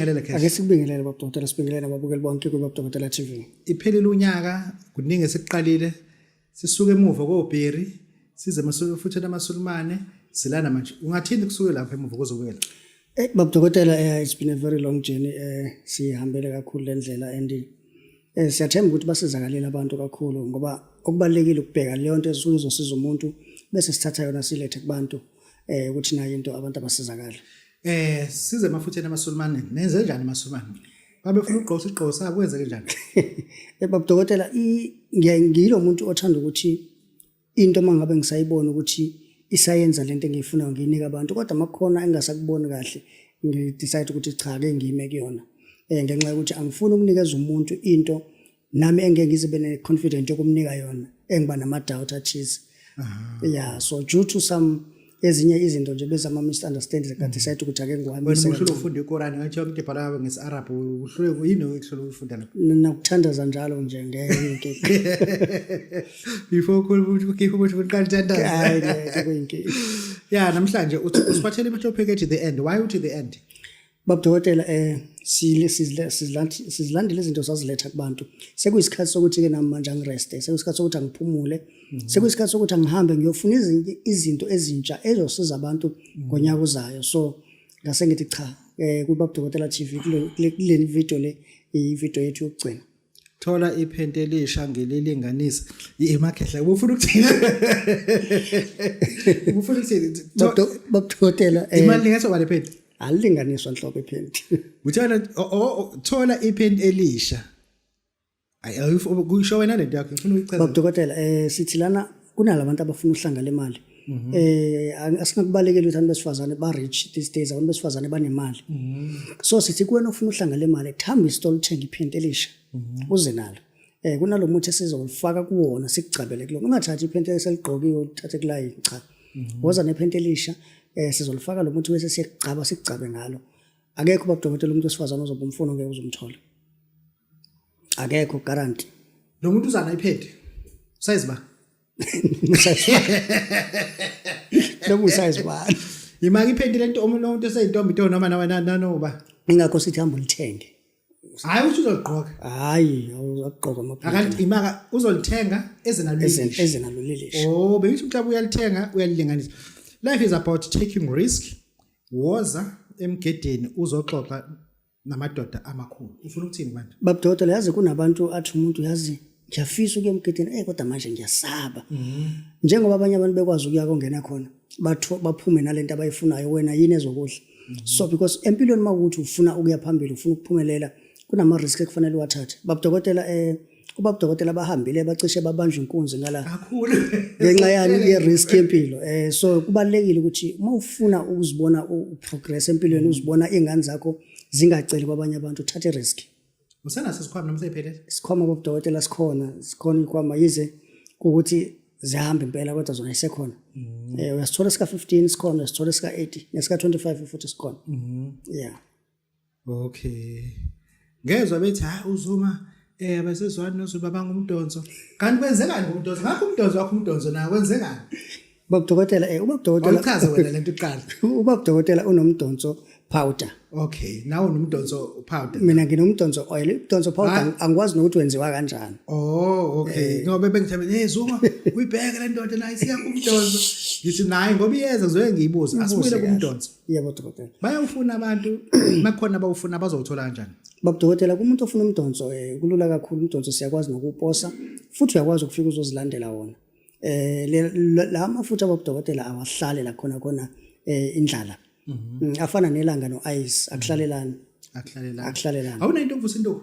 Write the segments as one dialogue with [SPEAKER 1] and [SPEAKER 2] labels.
[SPEAKER 1] Sibingelele Cash. Ake sikubingelele baba Dokotela,
[SPEAKER 2] sibingelele ababukeli bonke kuBaba Dokotela TV. Iphelile unyaka,
[SPEAKER 1] kuningi esikuqalile. Sisuke emuva koBheri, size masuke futhi namaSulumane, silana manje. Ungathini kusuke lapha emuva kozobuyela? Eh baba Dokotela,
[SPEAKER 2] eh, it's been a very long journey eh sihambele kakhulu lendlela and Eh, siyathemba ukuthi basizakalela abantu kakhulu ngoba okubalulekile ukubheka leyo nto esuke izosiza umuntu bese sithatha yona silethe kubantu eh ukuthi nayo into abantu abasizakala eh size
[SPEAKER 1] mafutheni amasulumane nenze njani amasulumane babefuna ugqosa igqosa sabo kwenzeke njani eh babudokotela
[SPEAKER 2] ngiyilo muntu othanda ukuthi into uma ngabe ngisayibona ukuthi isayenza le nto engiyifunayo ngiyinike abantu kodwa uma kukhona engingasakuboni kahle ngidecide ukuthi cha ke ngiyime kuyona um ngenxa yokuthi angifuni ukunikeza umuntu into nami engeke ngize be ne-confident yokumnika yona engiba nama-doubt athize ya so due to some ezinye izinto nje bezama misunderstand kade mm. sayithi ukuthi ake ngiwami wena uhlule ufunda ikorani
[SPEAKER 1] ngathi yonke into ibhala ngesi-arab uhlule yini okuhlule uyifunda lapho nakuthandaza njalo
[SPEAKER 2] nje ngeke
[SPEAKER 1] before ukhuluma ukuthi ukhipha ukuthi uqala uthandaza
[SPEAKER 2] ya namhlanje
[SPEAKER 1] usibathele imihlopheke ethi the end why uthi the end Baba Dokotela
[SPEAKER 2] eh sizilandile izinto saziletha kubantu sekuyisikhathi sokuthi-ke nami manje angireste sekuyisikhathi sokuthi angiphumule mhm. sekuyisikhathi sokuthi angihambe ngiyofuna izinto ezintsha ezosiza abantu mhm. ngonyaka uzayo so ngase ngithi cha um eh, kubabudokotela t v kule vidiyo le ividiyo yethu yokugcina thola iphenti
[SPEAKER 1] elisha ngililinganise imakhehla ubufuna ukuthini ubufuna ukuthini bakuthothela
[SPEAKER 2] eh, imali lingaso bale
[SPEAKER 1] phenti alilinganiswa nhlobo
[SPEAKER 2] iphenti uthola
[SPEAKER 1] thola iphenti elisha ayi kusho wena lento yakho ngifuna uyichaze bakudokotela eh sithi
[SPEAKER 2] lana kunalabantu abafuna uhlanga lemali mhm. eh asinakubalekela ukuthi abantu besifazane ba rich these days abantu besifazane banemali mhm. so sithi kuwena ofuna uhlanga lemali thamba isitolo uthenga iphenti elisha mhm. uze nalo eh kunalomuthi esizolifaka kuwona sikugcabele kulona ungathathi iphenti eseligqokiwe uthathe kulayi cha woza nephenti elisha eh sizolifaka lo muthi bese siyagcaba sigcabe ngalo akekho ubabudokotela umuntu wesifazane ozoba umfuno ngeke uzomthola akekho guarantee lo muntu uzana
[SPEAKER 1] iPad size ba
[SPEAKER 2] lo muntu size ba imaki iPad
[SPEAKER 1] lento omuntu onto eseyintombi to noma nawe nanoba ingakho sithi hamba
[SPEAKER 2] ulithenge hayi uthi
[SPEAKER 1] uzogqoka hayi
[SPEAKER 2] uzogqoka amaphepha akanti imaka
[SPEAKER 1] uzolithenga ezenalulile ezenalulile oh
[SPEAKER 2] bengithi mhlawumbe
[SPEAKER 1] uyalithenga uyalilinganisa life is about taking risk woza emgedeni uzoxoxa namadoda amakhulu ufuna ukuthini manje babudokotela yazi kunabantu
[SPEAKER 2] athi umuntu yazi ngiyafisa ukuya emgidini eyi kodwa manje ngiyasaba mhm. njengoba abanye abantu bekwazi ukuya kongena khona baphume nale nto abayifunayo wena yini ezokudla mhm. so because empilweni uma ukuthi ufuna ukuya phambili ufuna ukuphumelela kunama-risk ekufanele uwathathe babudokotela um eh, kuba kudokotela abahambile bacishe babanjwe inkunzi ngala kakhulu ngenxa
[SPEAKER 1] yani
[SPEAKER 2] ye-risk yempilo um so kubalulekile ukuthi uma ufuna ukuzibona uprogress empilweni mm. uzibona iy'ngane zakho zingaceli kwabanye abantu uthathe i-risk usenaso isikhwama
[SPEAKER 1] noma seyiphelele isikhwama kobudokotela
[SPEAKER 2] sikhona sikhona iy'khwama yize kuwukuthi zihamba impela kodwa zona isekhona um mm. eh, uyasithola sika-fifteen sikhona uyasithola sika-eighty nesika-twenty-five futhi sikhona mm. ya yeah
[SPEAKER 1] Okay. Ngezwe bethi ha uzuma eh abasezwani nozuba bangumdonso. Kanti kwenzekani ngomdonso? Ngakho umdonso wakho umdonso nawo kwenzekani? Babudokotela
[SPEAKER 2] eh uma kudokotela Awuchaze wena lento iqala.
[SPEAKER 1] uma kudokotela
[SPEAKER 2] unomdonso powder. Okay, nawo
[SPEAKER 1] nomdonso powder. Mina nginomdonso oil,
[SPEAKER 2] umdonso powder Ah. ang- angikwazi nokuthi wenziwa kanjani. Oh, okay.
[SPEAKER 1] Ngoba bengithambe hey Zuma, uyibheke le ndoda nayo isiya kumdonso. Ngithi nayi ngoba iyeza ngizoke ngiyibuze. Asibuyele kahle. kumdonso. yebo dokotela
[SPEAKER 2] bayawufuna abantu
[SPEAKER 1] makukhona abawufuna bazowuthola kanjani babudokotela kumuntu
[SPEAKER 2] ofuna umdonso um kulula kakhulu umdonso siyakwazi nokuwuposa futhi uyakwazi ukufika uzozilandela wona um la mafutha babudokotela awahlale la khona khona um indlala mhm. mm, afana nelanga no-ice akuhlalelani akuhlalelani awunayinto okuvusa intoku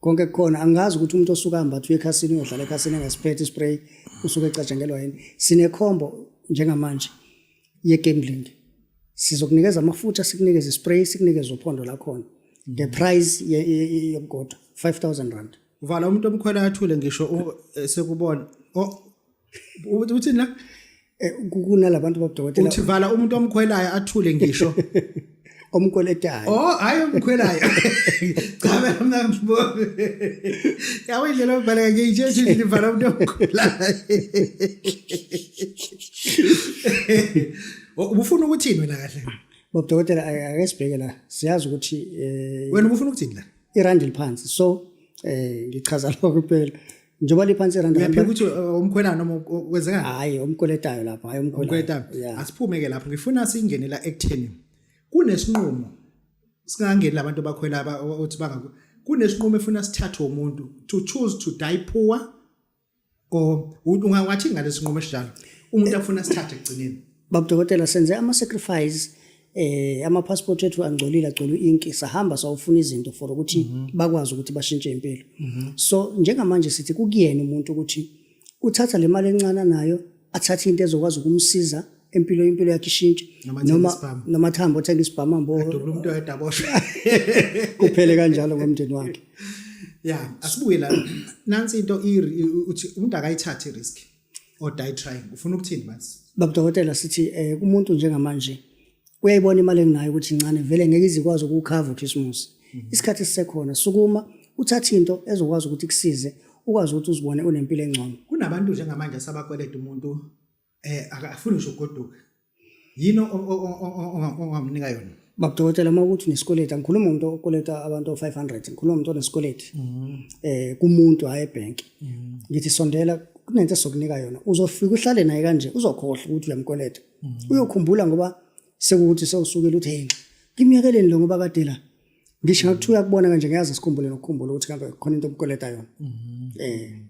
[SPEAKER 2] konke kukhona angazi ukuthi umuntu osuka hamba uye ekhasini uyodlala ekhasini engasiphethe ispray usuke ecatshangelwa yini sinekhombo njengamanje ye-gambling sizokunikeza amafutha sikunikeze ispray sikunikeze uphondo lakhona the price yokugoda 5000 rand vala umuntu omkhwela
[SPEAKER 1] athule ngisho eh, sekubona uthi uthini la Eh, kunalabantu
[SPEAKER 2] babudokotela uthi vala umuntu omkhwelayo
[SPEAKER 1] athule ngisho omkweletayo
[SPEAKER 2] oh hayi
[SPEAKER 1] omkhwelayo cha mina ngibone yawe indlela obhaleka ngiyitshe nje livala umuntu omkhwelayo oh, ubufuna ukuthini wena kahle babudokotela
[SPEAKER 2] ake sibheke la siyazi ukuthi eh, wena ubufuna
[SPEAKER 1] ukuthini la irandi liphansi so
[SPEAKER 2] eh ngichaza lokho kuphela njengoba liphansi irandi uyaphika ukuthi uh, umkhwelana
[SPEAKER 1] noma kwenzekani hayi umkweletayo
[SPEAKER 2] lapho hayi umkweletayo asiphume
[SPEAKER 1] ke lapho
[SPEAKER 2] ngifuna
[SPEAKER 1] singene la ekutheni kunesinqumo singangeni labantu abakhwela othi banga kunesinqumo efuna sithathwe umuntu to choose to die poor or ungawathi ngalesinqumo esinjalo umuntu afuna sithathe ekugcineni babudokotela senze
[SPEAKER 2] ama sacrifice eh ama passport ethu angcolile agcolu inki sahamba sawufuna izinto for ukuthi mm -hmm. bakwazi ukuthi bashintshe impilo mm -hmm. so njengamanje sithi kukuyena umuntu ukuthi uthatha le mali encane nayo athathe into ezokwazi ukumsiza empilo impilo yakhe ishintshe noma noma thamba othenga isibhama mbo adubula umuntu oyedaboshwe
[SPEAKER 1] kuphele
[SPEAKER 2] kanjalo ngomndeni wakhe ya
[SPEAKER 1] asibuye la nansi into uthi umuntu akayithathe risk or die trying ufuna ukuthini manje baba dokotela sithi
[SPEAKER 2] eh kumuntu njengamanje uyayibona imali enginayo ukuthi incane vele ngeke izikwazi ukukhava uChristmas mhm. isikhathi esisekhona sukuma uthathe into ezokwazi ukuthi kusize ukwazi ukuthi uzibone unempilo engcono kunabantu njengamanje
[SPEAKER 1] asabakweleta umuntu eh akafuni nje ugoduka yini ongamnika yona babudokotela uma ukuthi
[SPEAKER 2] unesikweleti angikhuluma umuntu okweleta abantu o-five hundred ngikhuluma umuntu onesikweleti um mm-hmm. eh, kumuntu hhayi ebhenki mm-hmm. ngithi sondela kunento esokunika yona uzofika uhlale naye kanje uzokhohlwa ukuthi uyamkweleta mm-hmm. uyokhumbula ngoba sekukuthi sewusukile uthi hey ngimyekeleni lo ngoba kade la ngisho ngathi uyakubona kanje ngiyazi sikhumbule nokukhumbula ukuthi kambe khona into obukweleta yona um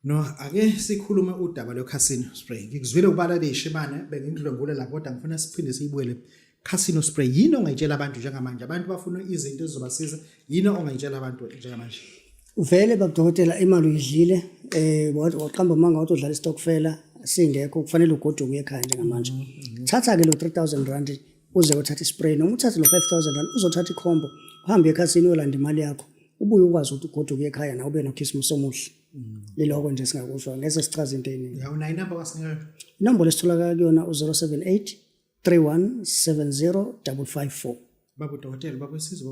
[SPEAKER 1] No, ake sikhulume udaba lweCasino Spray. Ngikuzwile ubala leyishimane bengikudlwengule la kodwa ngifuna siphinde siyibuyele Casino Spray. Yini ongayitshela abantu njengamanje? Abantu bafuna izinto ezizobasiza. Yini ongayitshela abantu njengamanje? Vele
[SPEAKER 2] babudokotela imali uyidlile eh waqamba manga wathi udlala istokfela singekho kufanele ugoduke ekhaya njengamanje. Mm-hmm. Thatha ke lo 3000 rand uze uthathe ispray noma uthathe lo 5000 rand uzothatha ikhombo uhambe ekhasini uyolanda imali yakho ubuye ukwazi ukuthi ugoduke ekhaya nawe ube nokhisimusi omuhle mm. liloko nje singakusho ngeze sichaza into eningi unayo inamba kwasinika
[SPEAKER 1] inombolo esitholakala
[SPEAKER 2] kuyona u-078 31 70 554
[SPEAKER 1] babudokotela
[SPEAKER 2] bakwesizo